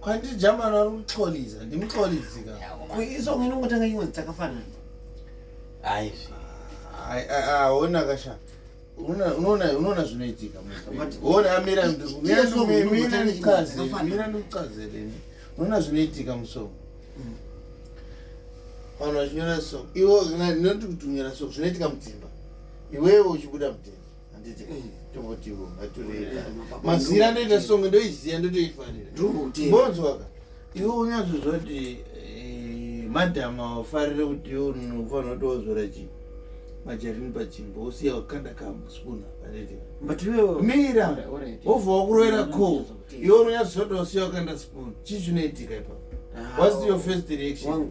kwandiri jamani ari kuxoliza ndimuxolizi kaizonginongotanga nyimwe dzakafanana aizvi aona kasha unoona zvinoitika ona amira mira ndikucazeleni unoona zvinoitika musomo mm. vanhu vachinyora so iwo ndinoti kuti unyora so zvinoitika mudzimba iwewe uchibuda mudzimba handiti mm, tongotiwo ngatureka eh, mazira anoita songe ndoiziva ndotoifanira bonzwaka iwe unyatsozva kuti eh, madhamu awafarire kuti iwe unofanira kuti wozora chii majarini pachimbo usiya wakanda kamuspuna handiti mira wobva wakurovera ko iwe unonyatsozva kuti wasiya wakanda spoon chii chinoitika ipapo ah, whats your first reaction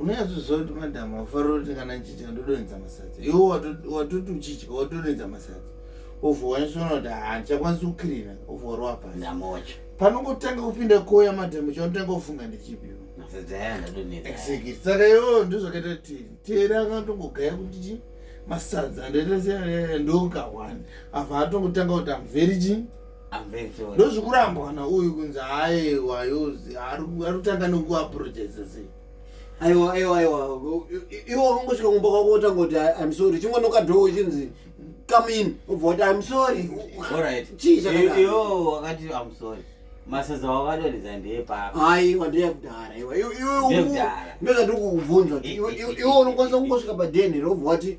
unonyatsoziva kuti madhamu wafarira kuti kana chichika ndodonhedza masadza iwo watoti uchichika watodonhedza masadza ovhowanyasona kuti handichakwanisi kukirina ovhorwa pasi panongotanga kupinda koya madhamu chaunotanga kufunga ndechipi saka iwo ndozvakaita kuti tera akatongogaya kuti chi masadza ndoita sendokahwani apa atongotanga kuti amveri chi ndozvikurambwa na uyu kunzi aewa yozi ari kutanga nekuapurojesa sei aiwa aiwa aiwa iwe wakangosvika kumba kwako wotanga kuti im sorry chingonoka dho uchinzi come in ubva kuti im sorry chii chakaiwo wakati im sorry masaza wavadonhedza ndeyepako aiwa ndeyekudhara iwe iwe ndozvatiri kukubvunza kuti iwe unokwanisa kungosvika padenhere wobva wati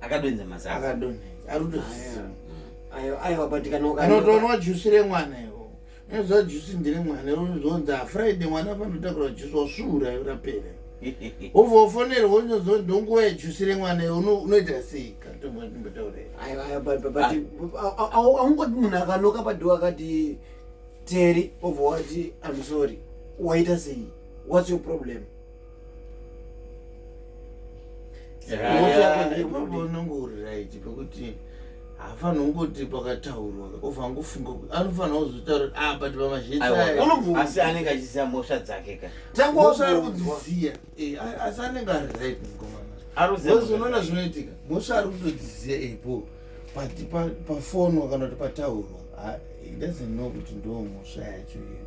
akadonza mazazi akadonza arudozisa ayo ayo abatikana anotoonwa jusi remwana iwo unoziva jusi ndire mwana iwo unozonza friday mwana panotakura jusi wasvuura yo rapera obva wafonerwa unozonza ndonguva yejusi remwana iwo unoita sei katombatauraaungoti munhu akanoka padiwa akati teri obva wati am sorry waita sei whats your problem ipapo unenge uri right pekuti hafani ungoti pakataurwa ovangofunga kuti anofanira kuzotaura kuti apa ah, tipa mazhitsaasi anenge achiziva mhosva dzake ka tangosa ari kudziziya eh, asi anenge ari right mukomanaozonoona zvinoitika mhosva ari kutodziziya ipo pafonwa kana kuti pataurwa ah, doesn't know kuti ndo mhosva yacho iyo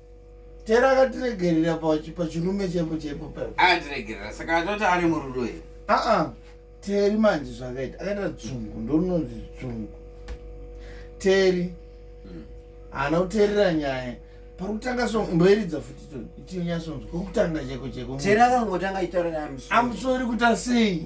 tera akatiregerera pachirume chepo chepo paandiregerera saka atoti ari murudo here aa teri manje zvakaita akaita dzungu ndononzi dzungu teri hmm. haana mm. kuterera nyaya pakutanga so mboeridza futi to itinyasonzwa kokutanga cheko cheko teri akangotanga itaura naye amusori kuti asei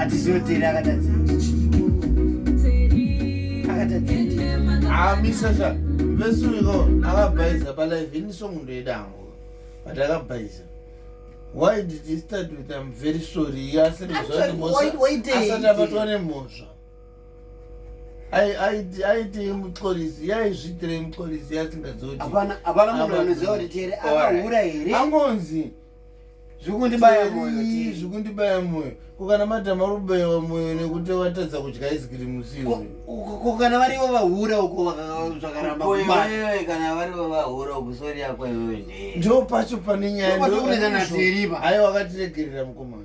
atizoteri akatadza amisasa ah, vesuiko akabhaiza palive ini song ndoyedango but akabhaiza why did he start with im very sorry asati abatwa nemhosva aitei muxolisi yaizviitirei muxolisi yasingadzotiangonzi zvikundibaya moyo zvikundibaya moyo kokana madhama vari kubayiwa moyo nekuti vatadza kudya izikiri musiwo kokana varivo vahura uko zvakaramba kubawewe kana varivo vahura uko sori yako iwewe ndee ndo pacho pane nyaya aiwa wakatiregerera mukomana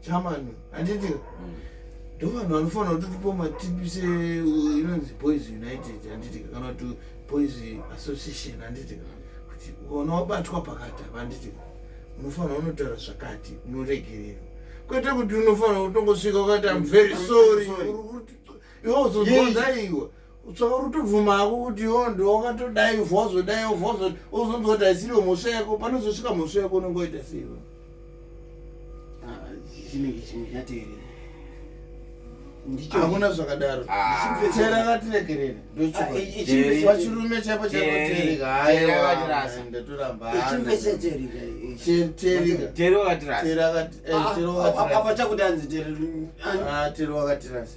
chamani handiti mm. ndo vanhu vanofanira kuti tipo matipi se inonzi boys united handiti kana kuti boys association handiti kuti ukaona wabatwa pakati apa handiti unofanira unotaura zvakati unoregererwa kwete kuti unofanira kutongosvika ukati am very sorry iwe uzozonza iwe tsobvuma hako kuti yo ndiwakatodai vhozo dai vhozo ozonzwa kuti haisiriwo mhosva yako panozosvika mhosva yako unenge waita seiwe ah, chinenge chimwe chateerera hamuna zvakadaro chera ah. vatiregerere ndochivachirume ah, chaipo chaikoterika hayatorambaateeri wakatirasa